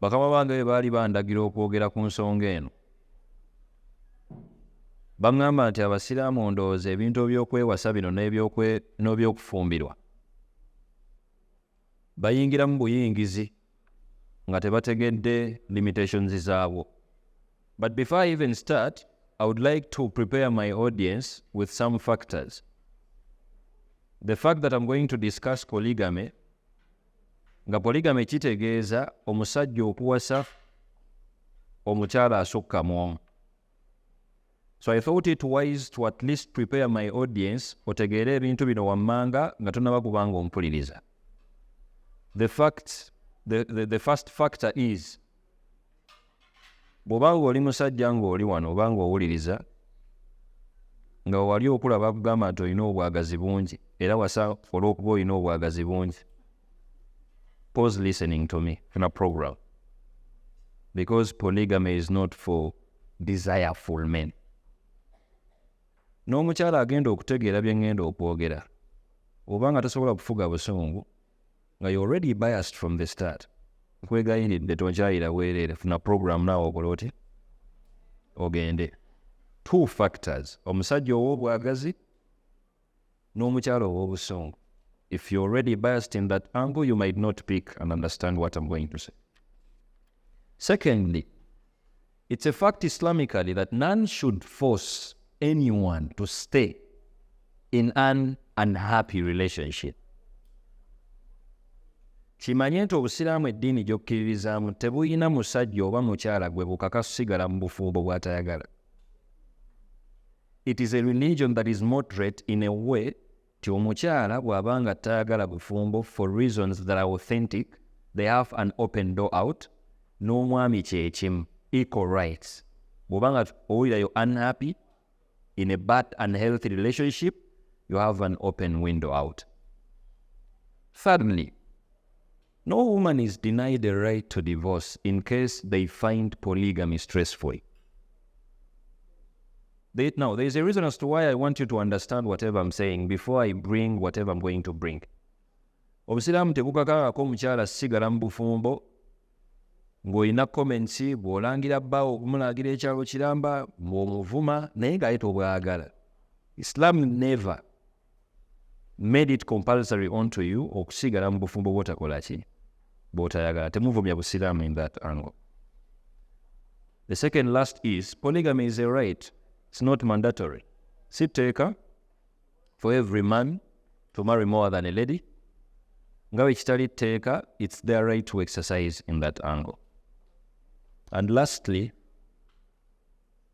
bakama bange bwe baali bandagira okwogera ku nsonga eno baŋŋamba nti abasiraamu ndowooza ebintu ebyokwewasa bino n'ebyokufumbirwa bayingiramu buyingizi nga tebategedde limitations zaabwo but before i even start i would like to prepare my audience with some factors the fact that i'm going to discuss polygamy nga poligame kitegeeza omusajja okuwasa omukyala asukka mu omu so i thought it wise to at least prepare my audience otegeere ebintu bino wammanga nga tonaba kubanga ompuliriza the fact the, the, the first factor is bw'oba ng'oli musajja ng'oli wano oba ng'owuliriza nga wali okula bakugamba nti olina obwagazi bungi era wasa olw'okuba olina obwagazi bungi pause listening to me in a program because polygamy is not for desireful men n'omukyala agenda okutegeera bye ŋŋenda okwogera oba nga tasobola kufuga busungu nga you already biased from the start nkwegayiridde tonkyayira bwereere funa program naawe okola oti ogende two factors omusajja ow'obwagazi n'omukyalo ow'obusungu if you already biased in that angle you might not pick and understand what i'm going to say secondly It's a fact Islamically that none should force anyone to stay in an unhappy relationship. kimanye nti obusiraamu eddiini gy'okkiririzaamu tebulina musajja oba mukyala gwe bukaka kusigala mu bufumbo bw'atayagala it is a religion that is moderate in a way nti omukyala bw'aba nga tayagala bufumbo for reasons that are authentic they have an open door out n'omwami kyekimu equal rights bw'oba nga owulira yo unhappy in a bad and healthy relationship you have an open window out thirdly No woman is denied a right to divorce in case they find polygamy stressful. They, now, there's a reason as to why I want you to understand whatever I'm saying before I bring whatever I'm going to bring. obusiraamu tebukakangako omukyala sigala mu bufumbo ng'olina comments bw'olangira bbaawo okumulagira ekyalo kiramba ng'omuvuma naye ng'aye tobwagala islam never made it compulsory onto you okusigala mu bufumbo bwotakola ki bwotayagala temuvumya busiraamu in that angle the second last is polygamy is a right it's not mandatory si tteeka for every man to marry more than a lady nga bwe kitali tteeka it's their right to exercise in that angle and lastly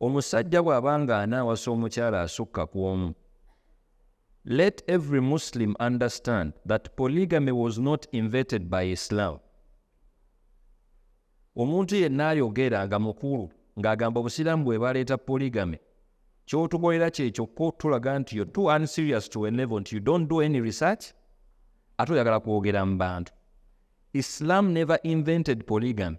omusajja bw'aba ng'anaawasa omukyala asukka ku omu let every muslim understand that polygamy was not inverted by islam omuntu yenna ayogera nga mukulu ng'agamba obusiraamu bwe baleeta polygamy kyotukolera kyekyokka otulaga nti yo too unserious to a level nti you don't do any research ate oyagala kwogera mu bantu islam never invented polygamy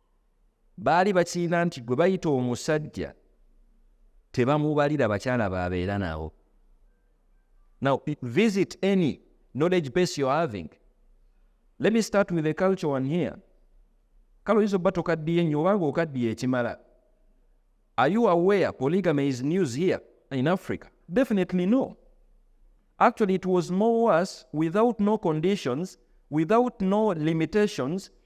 baali bakirina nti gwe bayita omusajja tebamubalira bakyala babeera nabo now visit any knowledge base you're having let me start with a culture one here kale oyinza obba tokaddiye nnyo obanga okaddiye ekimala are you aware polygamy is news here in africa definitely no actually it was more worse without no conditions without no limitations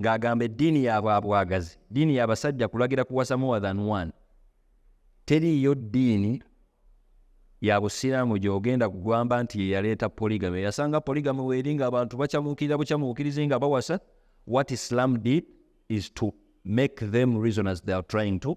ng'agamba eddiini ya bwabwagazi ddiini ya basajja kulagira kuwasa more than one teriiyo ddiini ya busiraamu gy'ogenda kugwamba nti yeyaleeta poligamy eyasanga poligamy weeri nga abantu bacamuukirira bucamuukirizi nga bawasa what islam did is to make them reasoners they are trying to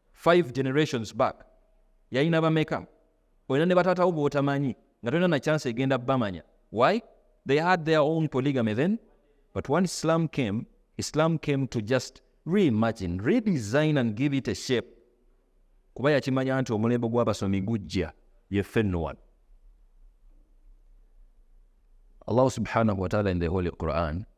five generations back yalina bameka olina ne bataatawo bwotamanyi nga tolina na chance egenda bamanya why they had their own polygamy then but when islam came islam came to just reimagine redesign and give it a shape kuba yakimanya nti omulembe gw'abasomi gujja yeffe nno wano Allah subhanahu wa ta'ala in the Holy Quran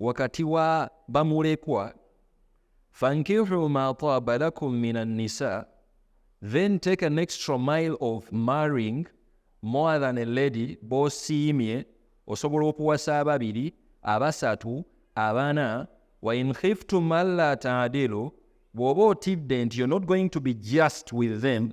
wakati wa bamulekwa fankihu ma taaba lakum min annisa then take an extra mile of marrying more than a lady bosiimye osobola okuwasa ababiri abasatu abana wa in khiftum alla taadilu bw'oba otidde nti you're not going to be just with them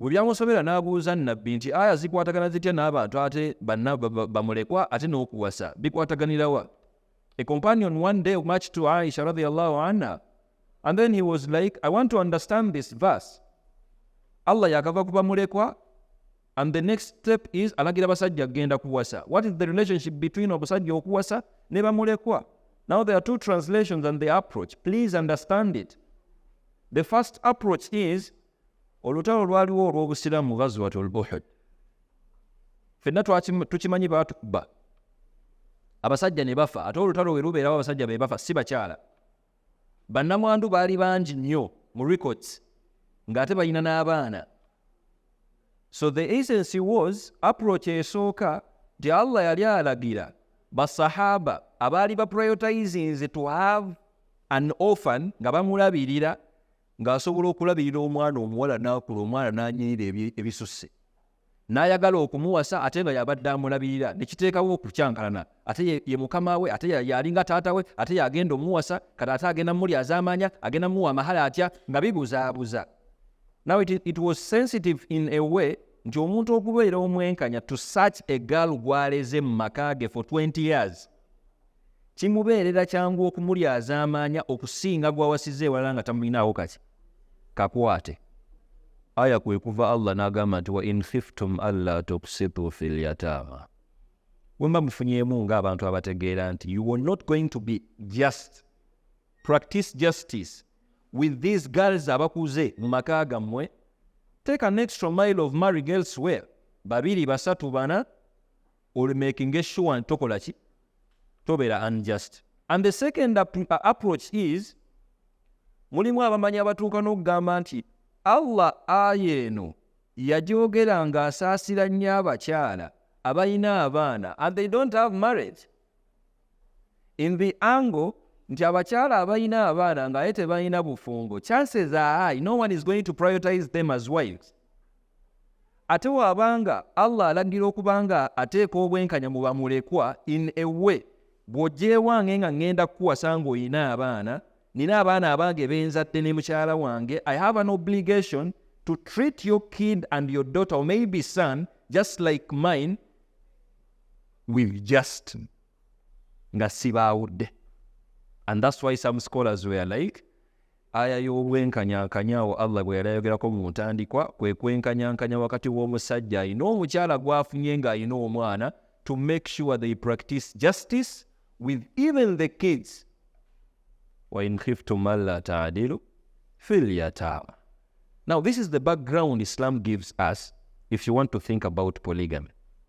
bwe byamusobera n'abuuza nnabbi nti aya zikwatagana zitya n'abantu ate banna bamulekwa ate n'okuwasa bikwataganirawa a companion one day match to aisha radiallahu anha and then he was like i want to understand this verse allah yakava ku bamulekwa and the next step is alagira abasajja kugenda kuwasa what is the relationship between omusajja okuwasa ne bamulekwa now there are two translations and the approach please understand it the first approach is olutalo lwaliwo olw'obusiraamu ghazwat olbuhud fenna tukimanyi baatukuba abasajja ne bafa ate olutalo we lubeerawo abasajja be bafa si bakyala bannamwandu baali bangi nnyo mu records ng'ate balina n'abaana so the agency was approach esooka nti allah yali alagira basahaba abaali baprioritizinze to have an orphan nga bamulabirira ng'asobola okulabirira omwana omuwala n'akula omwana n'anyirira ebisusse n'ayagala okumuwasa ate nga yabadde amulabirira ne kiteekawo okukyankalana ate ye mukama we ate yalinga taata we ate yagenda omuwasa kati ate agenda mumuli azaamaanya agenda muwa amahala atya nga bibuzaabuza now it, it was sensitive in a way nti omuntu okubeera omwenkanya to such a girl gwaleze mu maka ge for 20 years kimubeerera kyangu okumulyazaamaanya okusinga gw'awasiza ewalala nga tamulinaawo kaki kakwate aya kwe kuva allah n'agamba nti wa in khiftum alla tuksitu fi lyataama bwe mba mufunyeemu ng'abantu abategeera nti you were not going to be just practice justice with these girls abakuze mu maka gammwe take an extra mile of marriage elsewhere babiri basatu bana olimakinga essuwa nti tokola ki tobeera unjust and the second uh, approach is mulimu abamanyi abatuuka n'okugamba nti allah aya eno yajogera ng'asaasira nnyo abakyala abalina abaana and they don't have marriage in the angle nti abakyala abalina abaana ng'aye tebalina bufumbo chances are high no one is going to prioritize them as wives Ate waba nga Allah alagira okuba nga ateeka obwenkanya mu bamulekwa in a way bw'ojeewange nga ngenda kukuwasa ng'olina abaana, nina abaana abange benzadde ne mukyala wange, I have an obligation to treat your kid and your daughter or maybe son just like mine with just nga sibaawudde and that's why some scholars were like Aya y'obwenkanyankanya awo Allah gwe yali ayogerako mu ntandikwa kwe kwenkanyankanya wakati w'omusajja alina omukyala gwafunye ng'alina omwana to make sure they practice justice with even the kids wain khiftum alla taadilu fil yataama now this is the background islam gives us if you want to think about polygamy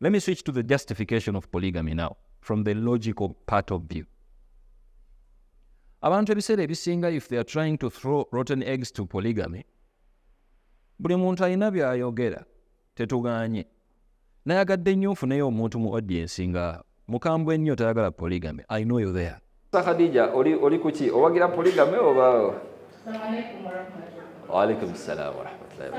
Let me switch to the justification of polygamy now from the logical part of view. abantu ebiseera ebisinga if they are trying to throw rotten eggs to polygamy buli muntu alina byayogera tetuganye nayagadde nnyo nfuneyo omuntu mu audiensi nga mukambwe nnyo tayagala polygamy i know you there khadija oli oli kuki owagira polygamy oba waalaikum salaam warahmatullahi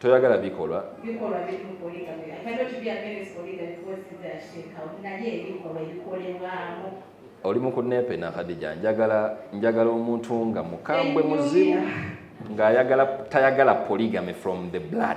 toyagala bikolwa oli mukunepe na khadija njagala njagala omuntu nga mukambwe muzibu ng'ayagala tayagala polygamy from the blood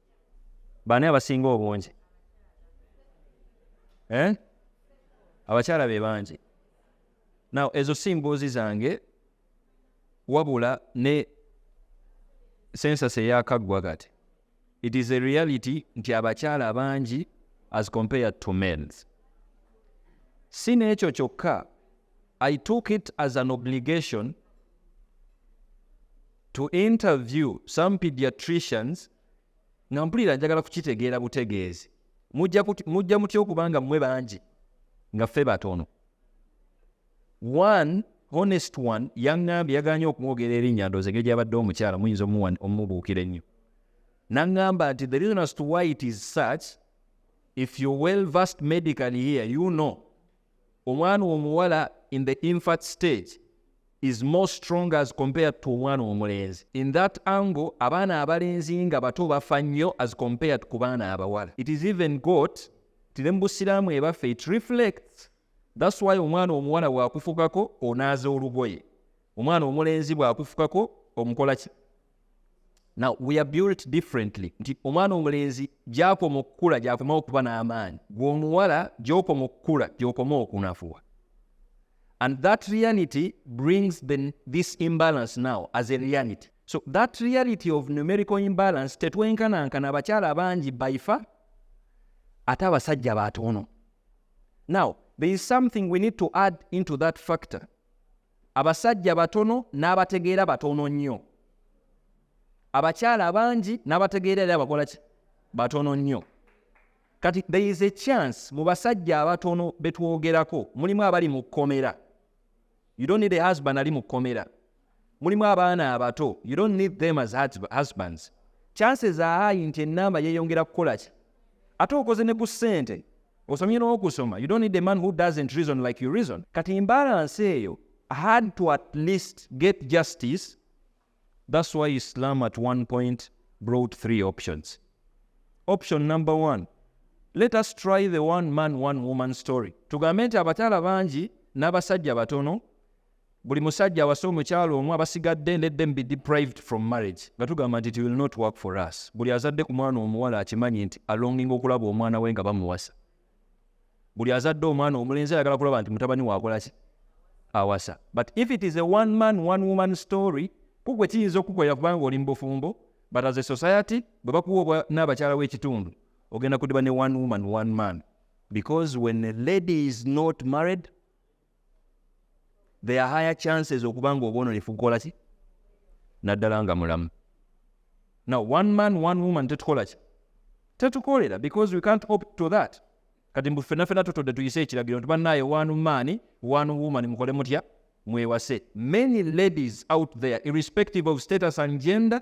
baani abasinga obungi eh? abakyala be bangi naw ezo si mboozi zange wabula ne sensas eyakaggwa kati it is a reality nti abakyala bangi as compared to males si n'ekyo kyokka I took it as an obligation to interview some pediatricians nga mpulira njagala kukitegeera butegeezi mujja mutya okubanga mmwe bangi nga ffe batono one honest one yaŋŋambye yaganye okumwogera erinnya ndoozi engeri gyabadde omukyala muyinza omubuukira ennyo naŋŋamba nti the reason as to why it is such if you well versed medically here you know omwana omuwala in the infant stage is more strong as compared to omwana omulenzi in that angle abaana abalenzi nga bato bafa nnyo as compared ku baana abawala it is even got tire mu busiraamu ebaffe it reflects thats why omwana omuwala bwakufukako onaaza olugoye omwana omulenzi bwakufukako omukolaki now we are built differently nti omwana omulenzi gyakoma okukula gyakoma okuba n'amaanyi gweomuwala gyokoma okukula gyokoma okunafuwa and that reality brings the, this imbalance now as a reality so that reality of numerical imbalance tetwenkanankana abakyala abangi baifa ate abasajja batono now there is something we need to add into that factor Abasajja batono n'abategeera batono nnyo. Abakyala abangi n'abategeera era bakola ki? Batono nnyo. Kati there is a chance mu basajja abatono be twogerako mulimu abali mu kkomera. You don't need a husband ali mu kkomera. Mulimu abaana abato. You don't need them as husbands. Chances are high nti ennamba yeeyongera kukola ki? ate okoze ne ku ssente osomye n'okusoma you don't need a man who doesn't reason like you reason kati imbalance eyo had to at least get justice that's why islam at one point brought three options option number one let us try the one man one woman story tugambe nti abakyala bangi n'abasajja batono buli musajja awasa omukyalo omu abasigadde let them be deprived from marriage nga tugamba nti it will not work for us buli azadde ku mwana omuwala akimanyi nti alonginga okulaba omwana we nga bamuwasa buli azadde omwana omulenzi ayagala kulaba nti mutabani wakolaki awasa but if it is a one man one woman story kugwe kiyinza okukukolera kubanga oli mubufumbo but as a society bwe bakuwa n'abakyala w'ekitundu ogenda kudiba ne one woman one man because when a lady is not married there are higher chances okuba nga obwononefu kukola ki naddala nga mulamu now one man one woman tetukola ki tetukolera because we can't opt to that kati mbu fena fena tutodde tuyise ekiragiro nti bannaaye one man one woman mukole mutya mwewase many ladies out there irrespective of status and gender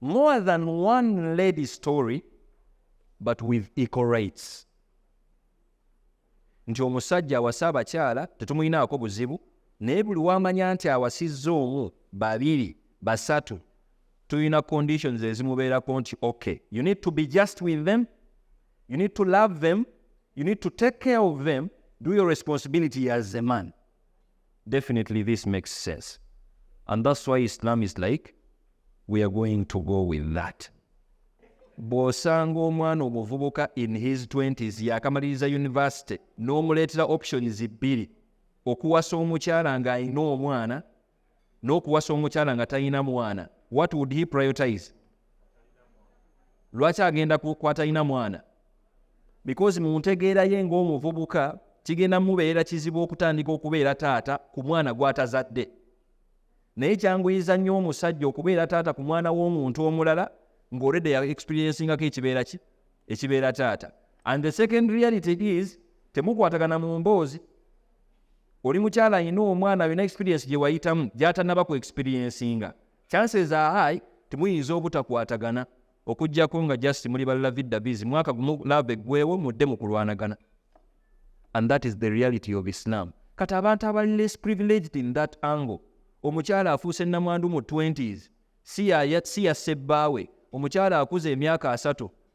more than one lady story but with equal rights nti omusajja awase abakyala tetumulinaako buzibu naye buli wamanya nti awasizza omu babiri basatu tulina conditions ezimubeerako nti ok you need to be just with them you need to love them you need to take care of them do your responsibility as a man Definitely this makes sense. And that's why Islam is like, we are going to go with that. bw'osanga omwana omuvubuka in his 20s yakamaliriza university n'omuleetera options bbiri okuwasa omukyala ng'alina omwana n'okuwasa omukyala nga talina mwana what would he prioritize lwaki agenda kwatalina mwana because mu ntegeera ye ng'omuvubuka kigenda mubeera kizibu okutandika okubeera taata ku mwana gw'atazadde naye kyanguyiza nnyo omusajja okubeera taata ku mwana w'omuntu omulala ng'olwedde ya experiencingako ekibeera ki ekibeera taata and the second reality is temukwatagana mu mboozi oli mukyala alina omwana alina experience gye wayitamu gyatanaba ku experiencinga chances are high timuyinza obutakwatagana okujjako nga just muli ballavidabizi mwaka gumu lava eggwewo mudde mu kulwanagana and that is the reality of islam kati abantu abali less privileged in that angle omukyala afuuse namwandu mu 20s si ya sebbaawe omukyala akuza emyaka asatu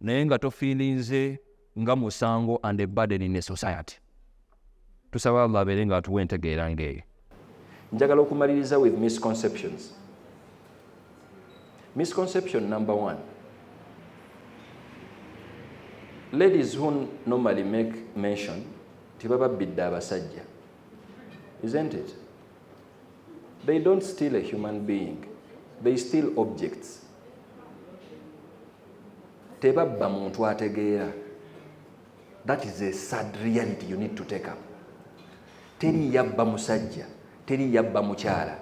naye nga tofiilinze nga musango and a burden in a society tusaba allah abeere nga atuwa entegeera ngaeyo njagala okumaliriza with misconceptions misconception number one ladies who normally make mention tibababbidde abasajja isn't it they don't steal a human being they steal objects tebabba muntu ategeera that is a sad reality you need to take up teri yabba musajja teri yabba mukyala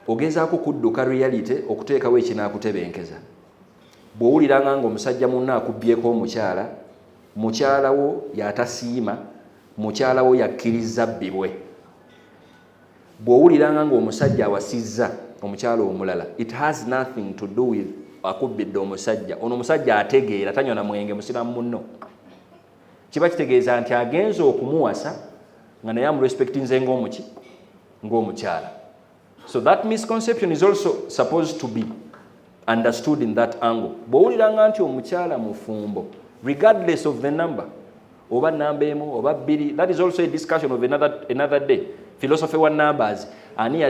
ogezaako kudduka reality okuteekawo ekinaakutebenkeza bw'owuliranga nga omusajja munna akubbyeko omukyala mukyalawo yatasiima mukyalawo yakkiriza bbibwe bwowuliranga nga omusajja awasizza omukyala omulala it has nothing to do with akubbidde omusajja ono omusajja ategeera tanywa na mwenge musiramu muno kiba kitegeeza nti agenze okumuwasa nga naye amurespectinze ngaomuki ngaomukyala so that misconception is also supposed to be understood in that angle bwowuliranga nti omukyala mufumbo regardless of the number oba namba emu oba bbiri that is also a discussion of another, another day philosophy wa numbers ani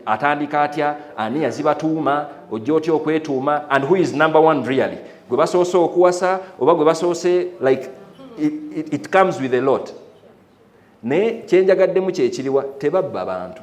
atandika atya ani yazibatuuma ojja otya okwetuuma and who is number one really gwe basoose okuwasa oba gwe basoose like it, it, it comes with a lot naye kyenjagaddemu kyekiriwa tebabba bantu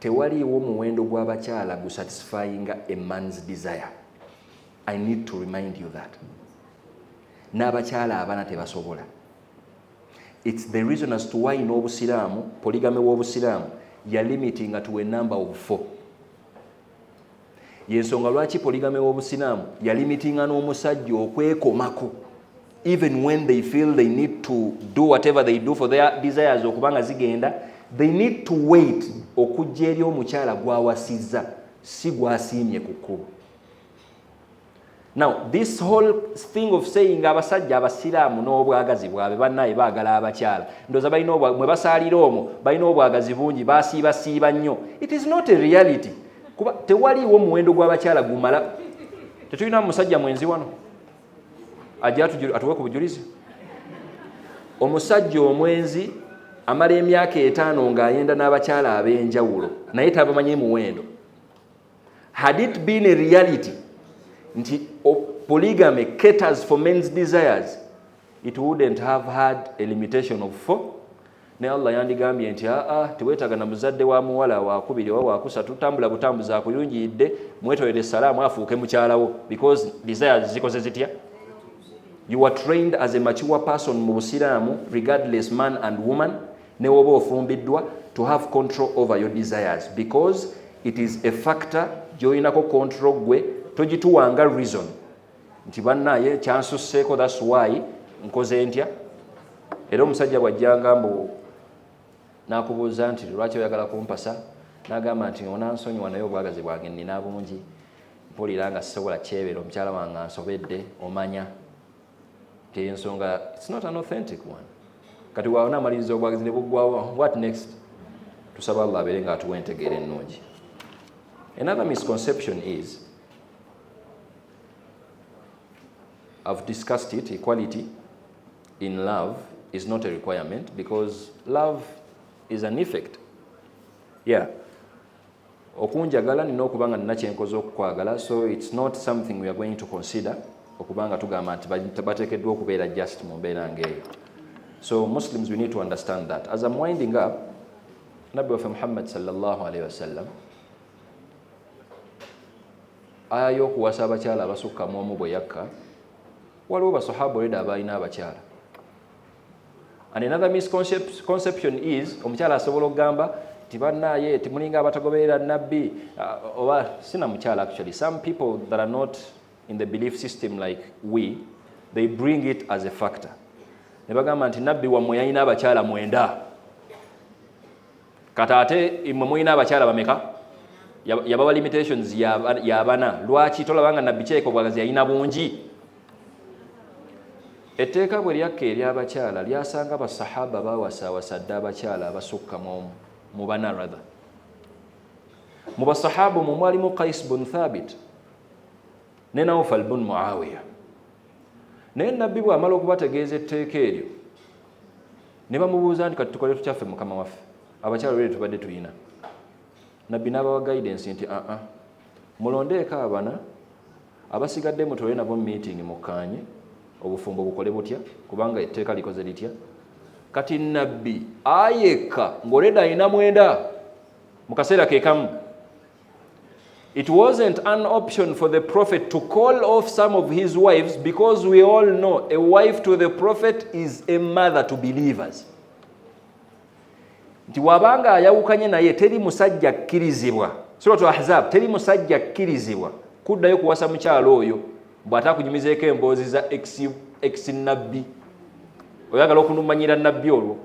Tewaliiwo muwendo gwa bakyala gu satisfyinga a man's desire. I need to remind you that. N'abakyala abana tebasobola. It's the reason as to why n'obusiraamu, polygamy w'obusiraamu, ya limitinga to a number of four. yensonga lwaki poligame w'obusiraamu yalimitinga n'omusajja okwekomako even when they feel they need to do whatever they do for their desires okuba nga zigenda they need to wait okujja eri omukyala gwawasizza si gwasiimye ku kkubo Now this whole thing of saying abasajja abasiraamu n'obwagazi bwabwe bannaye baagala abakyala ndoza balina mwe basaalira omwo balina obwagazi bungi basiibasiiba nnyo it is not a reality kuba tewaliiwo muwendo gw'abakyala gumala tetulina musajja mwenzi wano ajja atuwe ku bujulizi omusajja omwenzi amala emyaka etaano ng'ayenda n'abakyala ab'enjawulo naye tabamanyi muwendo had it been a reality nti polygamy caters for men's desires it wouldn't have had a limitation of four naye allah yandigambye nti aa ah, ah, teweetaga na muzadde wa muwala wakubiri oba wakusatu tambula butambuzi akuyungiyidde mwetolere salaamu afuuke mukyalawo because desires zikoze zitya you are trained as a mature person mu busiraamu regardless man and woman newoba ofumbiddwa to have control over your desires because it is a factor gyoyinako control gwe togituwanga reason nti banaye kyansusseeko thats why nkoze ntya era omusajja bwajjanga mbu nakubuuza nti lwaki oyagala kumpasa nagamba nti onansonyiwa naye obwagazi bwange nina bungi mpulira nga sisobola kyebera omukyala wange ansobedde omanya eyensonga it's not an authentic one kati waona amaliriza obwagizi ne buggwawo what next tusaba allah abeere nga atuwa entegeera ennungi another misconception is i've discussed it equality in love is not a requirement because love is an effect yeah okunjagala nina okuba nga nina kyenkoze okukwagala so its not something weare going to consider okuba nga tugamba nti bateekeddwa okubeera just mu mbeera ngaeyo so muslims we need to understand that as am winding up nabbi waffe muhammad salllah alaihi wasallam aya y'okuwasa abakyala abasukka mu omu bwe yakka waliwo basahaba oleda abaalina abakyala And another misconception is omukyala asobola okugamba nti bannaaye timulinga abatagoberera nabbi uh, oba sina mukyala actually some people that are not in the belief system like we they bring it as a factor ne bagamba nti nabbi wammwe yalina abakyala mwenda kata ate imwe mulina abakyala bameka yabawa limitations yabana lwaki tolaba nga nabbi kyeka obwagazi yalina bungi etteeka bwe lyakka eryabakyala lyasanga basahaba bawasawasa dda abakyala abasukka mu bana rather mu basahaba omwo mwalimu kais bun thabit ne naufal bun muawiya naye nabbi bwamala okubategeeza etteeka eryo ne bamubuuza nti kati tukole tukyaffe mukama waffe abakyalo lwere tubadde tulina nabbi n'abawa guidance nti aa ah, ah, mulondeeko abana abasigadde mutole nabo meeting mukkaanye obufumbo bukole butya kubanga etteeka likoze litya kati nabbi ayekka ng'oleda alina mwenda mu kaseera kekamu It wasn't an option for the prophet to call off some of his wives because we all know a wife to the prophet is a mother to believers. nti wabanga ayawukanye naye teri musajja akkirizibwa suratu ahzab teri musajja akkirizibwa kuddayo kuwasa mukyalo oyo bw'atakunyumizeeko emboozi za ex nabbi oyagala okunumanyira nabbi olwo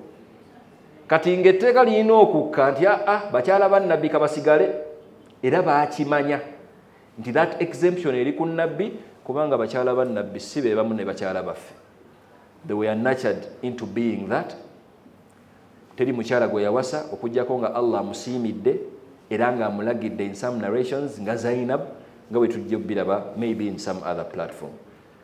kati ng'etteeka lirina okukka nti aa ah, ah, bakyala ba nabbi kabasigale era baakimanya nti that exemption eri ku nabbi kubanga bakyala ba nabbi si be bamu ne bakyala baffe they were natured into being that teri mukyala gwe yawasa okugyako nga allah amusiimidde era ng'amulagidde in some narrations nga zainab nga bwe tujja okubiraba maybe in some other platform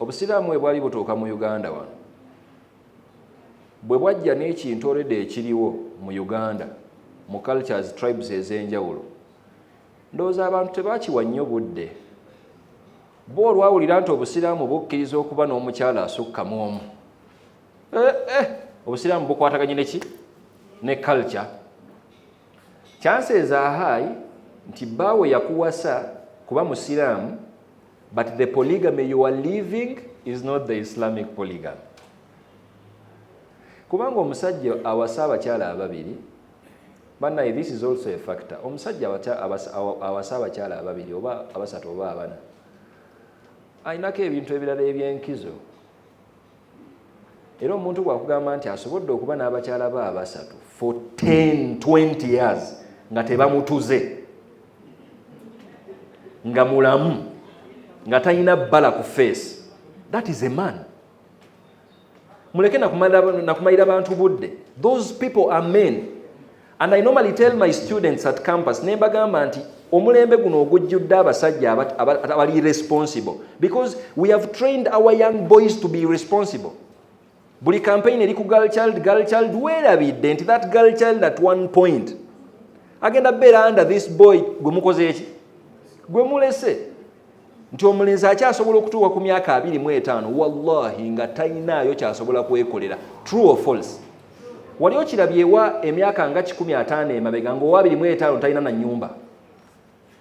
obusiraamu bwe bwali butuuka mu uganda wano bwe bwajja n'ekintu olwedde ekiriwo mu uganda mu cultures tribes ez'enjawulo ndowooza abantu tebakiwa nnyo budde bo olwawulira nti obusiraamu bukkiriza okuba n'omukyala asukkamu omu eh, eh, obusiraamu bukwataganye neki ne culture Chances are high nti baawo yakuwasa kuba musiraamu but the polygamy you are living is not the islamic polygamy kubanga omusajja awasa abakyala ababiri banaye this is also a factor omusajja awasa abakyala ababiri oba abasatu oba abana alinako ebintu ebirala ebyenkizo era omuntu bwakugamba nti asobodde okuba n'abakyala be abasatu for 10 20 years nga tebamutuze nga mulamu nga talina bbala ku face that is a man muleke nakumalira bantu budde those people are men And I normally tell my students at campus ne mbagamba nti omulembe guno ogujjudde abasajja abali responsible because we have trained our young boys to be responsible buli campaign eri ku girl child girl child weerabidde nti that girl child at one point agenda beera under this boy gwe mukoze eki gwe mulese nti omulenzi akyasobola okutuuka ku myaka abiri mu etaano wallahi nga talinaayo kyasobola kwekolera true or false wali okirabyewa emyaka nga kikumi ataano emabega ngaowa abiri mu etaano talina na nyumba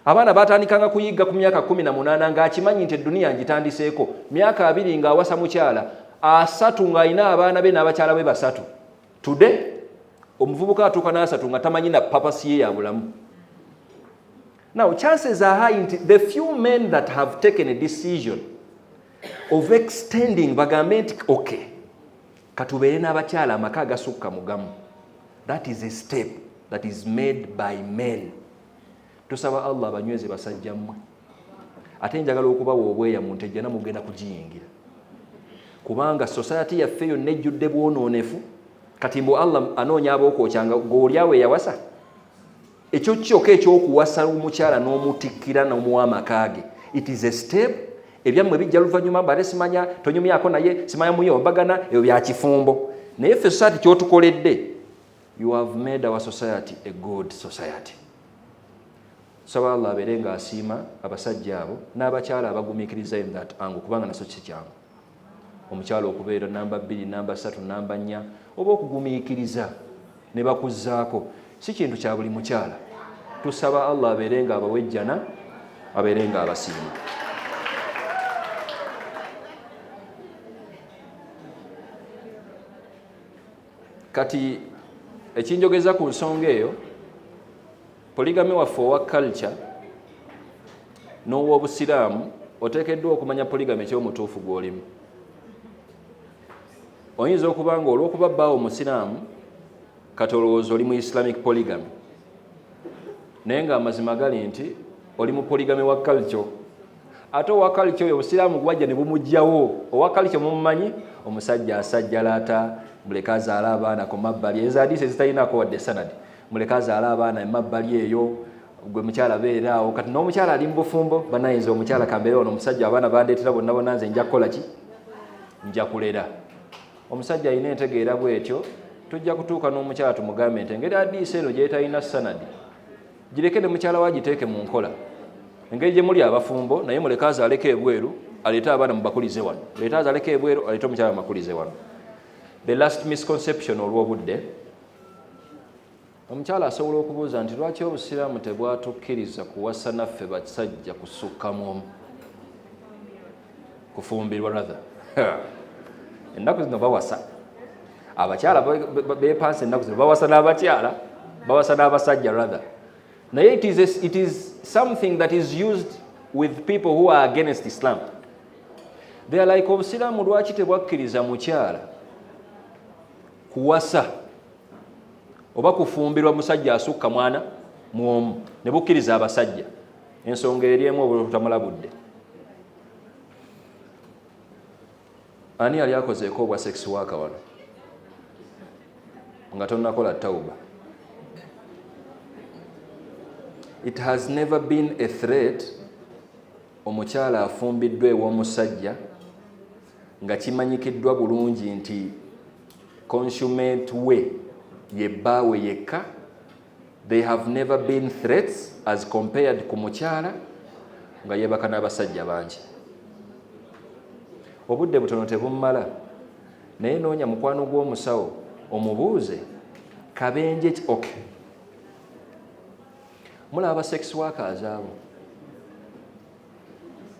abaana batandikanga kuyigga ku myaka kumi na munaana ngaakimanyi nti edduniya ngitandiseeko myaka abiri ngaawasa mukyala asatu ng'alina abaana be n'abakyala be basatu tude omuvubuka atuuka n'asatu nga tamanyi na papasiye ya bulamu Now chances are high nti the few men that have taken a decision of extending bagambe nti okay katubeere n'abakyala amaka agasukka mugamu that is a step that is made by men tusaba allah abanyweze basajja mmwe ate njagala okubawa obweya mu nte jjana mugenda kugiyingira kubanga society yaffe yonna ejjudde bwonoonefu kati mbu allah anoonya abookwokya nga gweolyawo eyawasa ekyo kyoka ekyokuwasa omukyala n'omutikkira n'omuwa amaka ge it is a step ebyammwe bijja luvannyuma mbale simanya tonyumyako naye simanya muye obagana ebyo bya kifumbo naye ffe society kyotukoledde you have made our society a good society saba allah abeere nga asiima abasajja abo n'abakyala abagumikiriza in that angle kubanga naso kikyangu omukyala okubeera namba bbiri namba ssatu namba nnya oba okugumiikiriza ne bakuzzaako si kintu kya buli mukyala tusaba allah abeere nga abawejjana abeere nga abasiima kati ekinjogeza ku nsonga eyo Poligami waffe owa culture n'ow'obusiraamu oteekeddwa okumanya poligami ekyomutuufu gw'olimu. Oyinza okuba nga olw'okuba bbaawo omusiraamu kati olowooza oli mu islamic poligami naye ng'amazima gali nti oli mu poligami wa kalco ate owa kalco oyo obusiraamu gwajja ne bumugyawo owa kalco mumumanyi omusajja asajjalata muleka azaala abaana ku mabbali ezo adiisi ezitalinako wadde sanadi muleke azaale abaana emabbali eyo gwe mukyala beera awo kati n'omukyala ali mu bufumbo banayinza omukyala kambeera ono omusajja abaana bandeetera bonna bona nze nja kukola ki nja kulera omusajja alina entegeera bwetyo tujja kutuuka n'omukyala tumugambe nti engeri adiisa eno gyetalina sanadi gireke ne mukyala wa giteeke mu nkola engeri gye muli abafumbo naye muleke azaaleko ebweru aleete abaana mubakulize wano leete azaaleko ebweru aleete omukyala mubakulize wano the last misconception olw'obudde omukyala asobola okubuuza nti lwaki obusiraamu tebwatukkiriza kuwasa naffe basajja kusukka mu omu kufumbirwa rather ennaku zino bawasa abakyala bepansa ennaku zino bawasa n'abakyala bawasa n'abasajja rather naye it is, a, it is something that is used with people who are against islam they are like obusiraamu lwaki tebwakkiriza mukyala kuwasa oba kufumbirwa musajja asukka mwana mwomu ne bukkiriza abasajja ensonga eri emu obutamalabudde ani yali akozeeko obwa sex waka wano nga tonakola tauba it has never been a threat omukyala afumbiddwa ew'omusajja nga kimanyikiddwa bulungi nti consument we ye bbaawe yekka they have never been threats as compared ku mukyala nga yebaka n'abasajja bangi obudde butono tebumumala naye noonya mukwano gw'omusawo omubuuze kabenje ok mulaba sex workers abo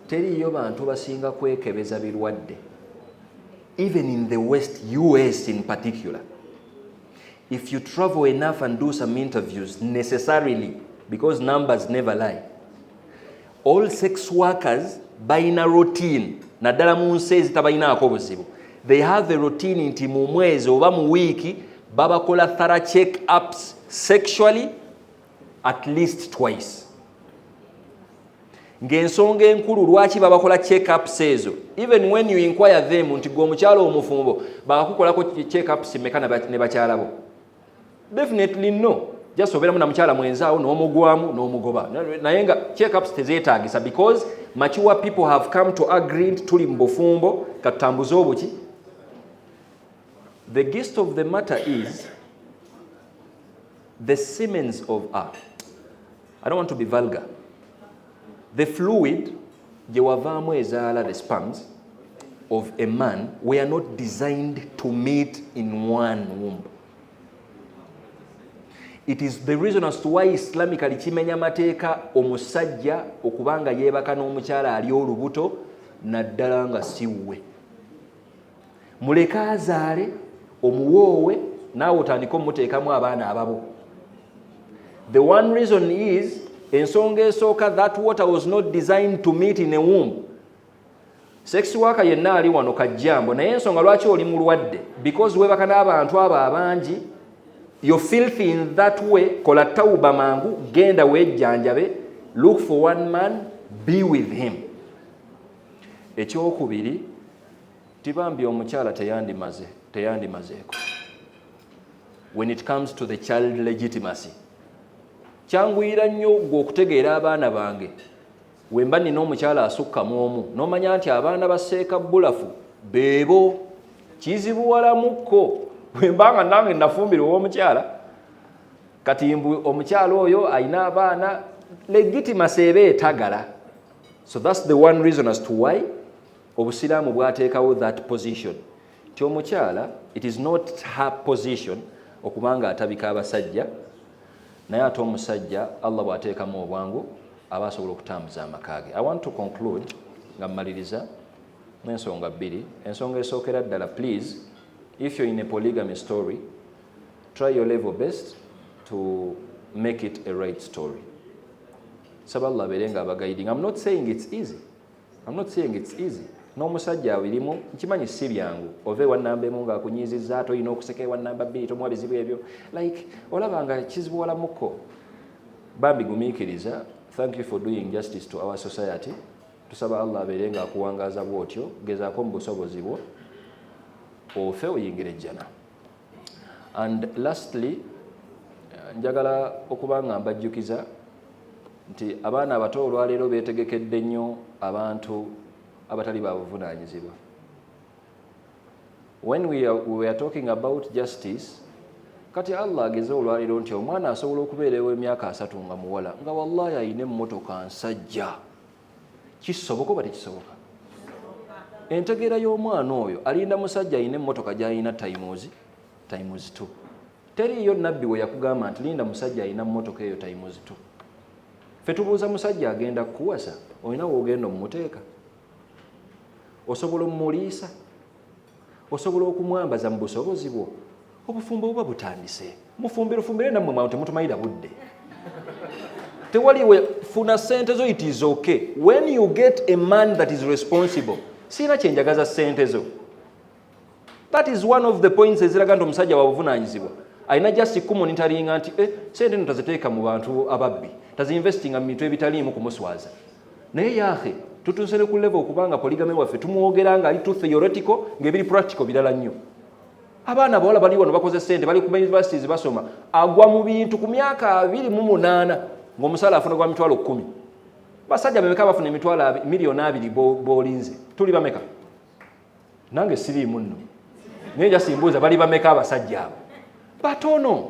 teriiyo bantu basinga kwekebeza birwadde even in the west us in particular if you travel enough and do some interviews necessarily because numbers never lie all sex workers balina routine naddala mu nsi ezitabalinaako buzibu they have a routine nti mu mwezi oba mu wiiki babakola thara check ups sexually at least twice ng'ensonga enkulu lwaki babakola checkups ezo even when you inquire them nti gwe omukyalo omufumbo bakakukolako checkups meka ne bakyala bo definitely no just obeeramu na mukyala mwenzaawo n'omugwamu n'omugoba naye nga checkups tezeetaagisa because mature people have come to agree nti tuli mu bufumbo katutambuze obuki the gist of the matter is the siemens of a i don't want to be vulgar the fluid gye wavaamu ezaala the spams of a man we are not designed to meet in one womb it is the reason as to why islamically kimenya amateeka omusajja okuba nga yeebaka n'omukyala ali olubuto naddala nga siwwe muleke azaale omuwoowe naawe otandike omuteekamu abaana ababo the one reason is ensonga esooka that water was not designed to meet in a womb sex waka yenna ali wano kajjambo naye ensonga lwaki oli mulwadde because webaka n'abantu abo abangi yo filth in that way kola tawuba mangu genda wejjanjabe look for one man be with him ekyokubiri tibambi omukyala teyandimaze teyandimazeeko when it comes to the child legitimacy kyanguyira nnyo gwe okutegeera abaana bange wemba nina omukyala asukka mu omu nomanya nti abaana baseeka bulafu beebo kizibuwalamukko wemba nga nange nafumbira owomukyala kati mbu omukyala oyo alina abaana legitimacy eba etagala so thats the one reason as to why obusiraamu bwateekawo that position nti omukyala it is not her position okubanga atabika abasajja naye ate omusajja allah bwateekamu obwangu aba asobola okutambuza amaka ge i want to conclude nga mmaliriza n'ensonga bbiri ensonga esookera ddala please if you're in a polygamy story try your level best to make it a right story saba allah abeere nga abagaiding am not saying its easy am not saying its easy n'omusajja awirimu nkimanyi si byangu ova ewannamba emu nga akunyiizizza ate olina okuseka ewannamba bbiri tomuwa bizibu ebyo like olaba nga kizibuwalamuko bambi gumiikiriza thank you for doing justice to our society tusaba allah abeere nga akuwangaaza bwotyo gezaako mu busobozi bwo ofe oyingira ejjana and lastly eh, njagala okuba nga mbajjukiza nti abaana abato olwaleero beetegekedde nnyo abantu abatali ba buvunaanyizibwa when we are, we are talking about justice kati allah ageze olwaleero nti omwana asobola okubeera ew'emyaka asatu nga muwala nga wallahi alina emmotoka nsajja kisoboka oba tekisoboka entegeera y'omwana oyo alinda musajja alina emmotoka gyalina times times t teriiyo nabbi we yakugamba nti linda musajja alina mmotoka eyo times t fe tubuuza musajja agenda kukuwasa olina woogenda omumuteeka osobola omumuliisa osobola okumwambaza mu busobozi bwo obufumbo buba butandise mufumberufumbe era nammwe mwantu temutumalira budde tewali we funa sente zo it is okay when you get a man that is responsible siina kyenjagaza sente zo that is one of the points eziraga nti omusajja wabuvunanyizibwa alina just kumonitaringa nti eh, sente no taziteeka mu bantu ababbi taziinvestinga mu bintu ebitaliimu kumuswaza naye yahe tutuuse ne ku level okubanga poligame waffe tumwogera nga ali too theoretical ngaebiri practical birala nnyo abaana abawala bali wano bakoze sente bali kuma universities basoma agwa mu bintu ku myaka abiri mu munaana ngaomusaala afuna gwa mitwalo kumi basajja bemeka bafuna emitwalo miliyoni abiri bolinze tuli bameka nange siriimu nno naye jasimbuuza bali bameka abasajja abo batono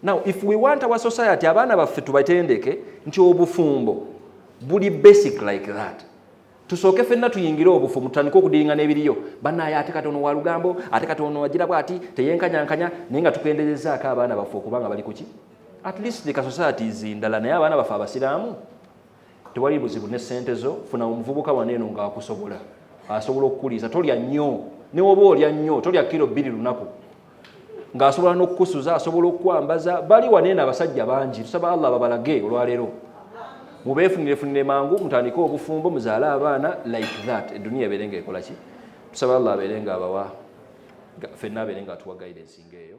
now if we want our society abaana baffe tubatendeke nti obufumbo buli basic like that tusooke fenna tuyingire obufu mutandike okudiringa n'ebiriyo banaye ate kati ono walugambo ate kati ono wagira bwati teyenkanyankanya naye nga tukenderezaako abaana baffe okuba nga bali kuki at least the kasociaties ndala naye abaana baffe abasiraamu tewali buzibu ne sente zo funa omuvubuka waneeno ngaakusobola asobola okukuliisa tolya nnyo newoba olya nnyo tolya kiro bbiri lunaku ng'asobola n'okukusuza asobola okukwambaza bali waneeno abasajja bangi tusaba allah babalage olwaleero mubeefunirefunire mangu mutandike obufumbo muzaale abaana like that eduniya ebeere nga ekola ki tusaba allah abeere nga abawa fenna abeere nga atuwa guidance nga eyo